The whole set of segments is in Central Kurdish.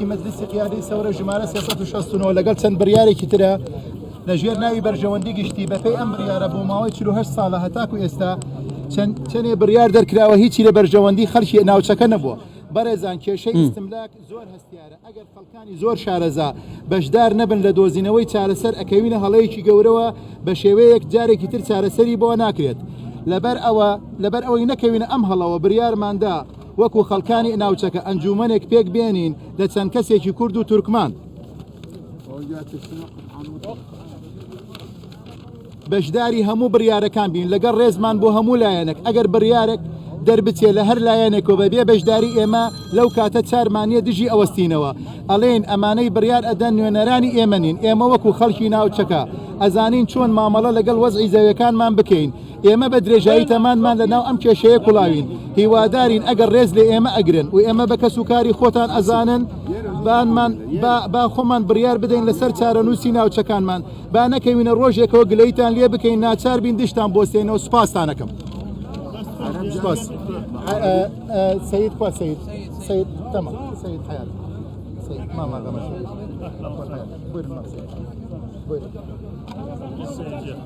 ی مەجلیسی قیادەی سەورە ژمارە سێ سەد و شەست و نۆ لەگەڵ چەند بڕیارێکی ترە لەژێر ناوی بەرژەوەندی گشتی بەپێی ئەم بڕیارە بۆ ماوەی 48 ساڵە هەتاکو ئێستا چەند چەندێ بڕیار دەرکراوە هیچی لە بەرژەوەندی خەڵکی ناوچەکە نەبووە بەڕێزان کێشەی ئیستملاک زۆر هەستیارە ئەگەر خەڵکانی زۆر شارەزا بەشدار نەبن لە دۆزینەوەی چارەسەر ئەکەوینە هەڵەیەکی گەورەوە بە شێوەیەک جارێکی تر چارەسەری بۆ ناکرێت لەبەر ئەوە لەبەر ئەوەی نەکەوینە ئەم هەڵەوە بڕیارماندا وەکو خەڵکانی ئناوچەکە ئەنجوومەنێک پێک بێنین لە چەند کەسێکی کورد و تورکمان بەشداری هەموو بڕیارەکان بین لەگەڵ ڕێزمان بۆ هەموو لایەنێک ئەگەر بڕیارێک دەربچێ لە هەر لایەنێکەوە بەبێ بەشداری ئێمە لەو کاتە چارمانە دژی ئەوەستینەوە ئەلێن ئەمانەی بڕیار ئەدەن نوێنەرانی ئێمە نین ئێمە وەکو خەڵکی ناوچەکە ئەزانین چۆن مامەڵە لەگەڵ وەزعی زەوەکانمان بکەین ئێمە بە درێژایی تەمانمان لە ناو ئەم کێشەیە کوڵاوین هیوادارین ئەگەر ڕێز لە ئێمە ئەگرن و ئێمە بە کەس و کاری خۆتان ئەزانن بانمان با خۆمان بڕیار بدەین لەسەر چارەنووسی ناوچەکانمان با نەکەوینە ڕۆژێکەوە گلەیتان لێ بکەین ناچار بین دشتان بۆستێنەوە سوپاستانەکەم سپاس سید کوا سید سید تەمە سید حیات سید ماما غەمەش بۆ بۆ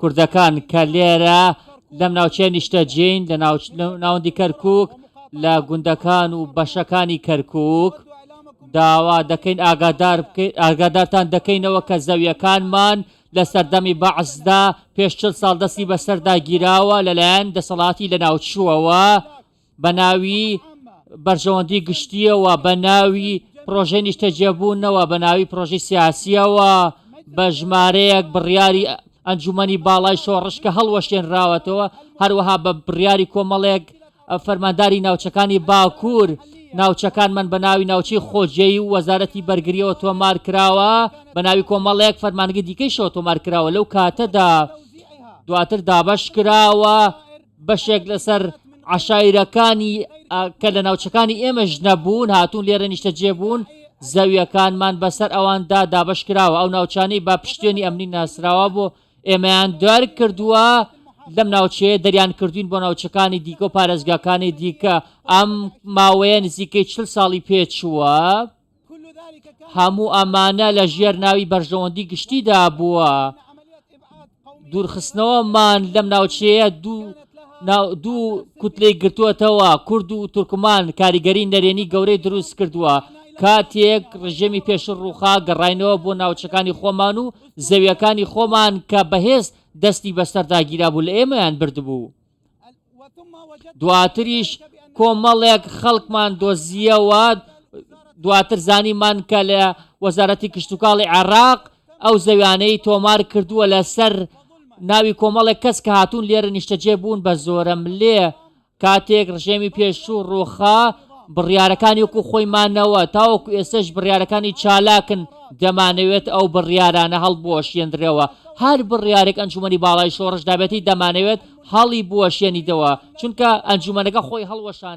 کوردەکان کە لێرە لەم ناوچەیە نیشتەجێین لە ناوەندی کەرکک لە گوندەکان و بەشەکانی کەرکک داوا دەکەین ئاگادار بکەیت ئاگادارتان دەکەینەوە کە زەویەکانمان لە سەردەمی بەعسدا پێش چل ساڵ دەستی بەسەردا گیراوە لەلایەن دەسەڵاتی لە ناوچووەوە بە ناوی بەرژەوەندی گشتییەوە بە ناوی پرۆژەی نیشتەجێبوونەوە بە ناوی پرۆژەی سیاسیەوە بە ژمارەیەک بڕیاری ئەنجومنی باڵای شۆڕش کە هەڵوەشێنراوەتەوە هەروەها بە بڕیاری کۆمەڵێک فەرمانداری ناوچەکانی باکوور ناوچەکان من بە ناوی ناوچی خۆجێی و وەزارەتی بەرگریەوە تۆمار کراوە بە ناوی کۆمەڵەیەک فەرمانگە دیکەی شەوە تۆمار کراوە لەو کاتەدا دواتر دابش کراوە بەشێک لەسەر عشایرەکانی کە لە ناوچەکانی ئێمەش نەبوون هاتوون لێرە نیشتەجێ بوون زەویەکانمان بەسەر ئەواندا دابش کراوە ئەو ناوچانەی با پشتێنی ئەمنی ناسراوە بۆ ئێمەیان دار کردووە لەم ناوچەیە دەریان کردوین بۆ ناوچەکانی دیکە و پارێزگاکانی دیکە ئەم ماوەیە نزیکەی چل ساڵی پێچووە. هەموو ئەمانە لە ژێر ناوی بەرژەوەندی گشتیدا بووە دوورخستنەوەمان لەم ناوچەیە دوو دوو کوتلەی گرتووەتەوە کورد و تورکمان کاریگەری نەرێنی گەورەی دروست کردووە کاتێک ڕژێمی پێش ڕووخا گەڕینەوە بۆ ناوچەکانی خۆمان و زەویەکانی خۆمان کە بەهێز دەستی بەسەرداگیرا بوو لە ئێمەیان بردبوو دواتریش کۆمەڵێک خەڵکمان دۆزیەوە دواتر زانیمان کە لە وەزارەتی کشتتوکاڵی عراق ئەو زەویانەی تۆمار کردووە لەسەر ناوی کۆمەڵێک کەس کە هاتوون لێرە نیشتەجێ بوون بە زۆرە ملێ کاتێک ڕژێمی پێشوو ڕووخا بڕیارەکانی وەکو خۆی مانەوە، تاوەکو ئێستەش بڕیارەکانی چالاکن، دەمانەوێت ئەو بڕیارانە هەڵبوەشێنرێەوە، هەر بڕیارێک ئەنجومەنی باڵای شۆڕش دابێتی دەمانەوێت هەڵیبوەشێنیتەوە، چونکە ئەنجومەنەکە خۆی هەڵوەشانوە.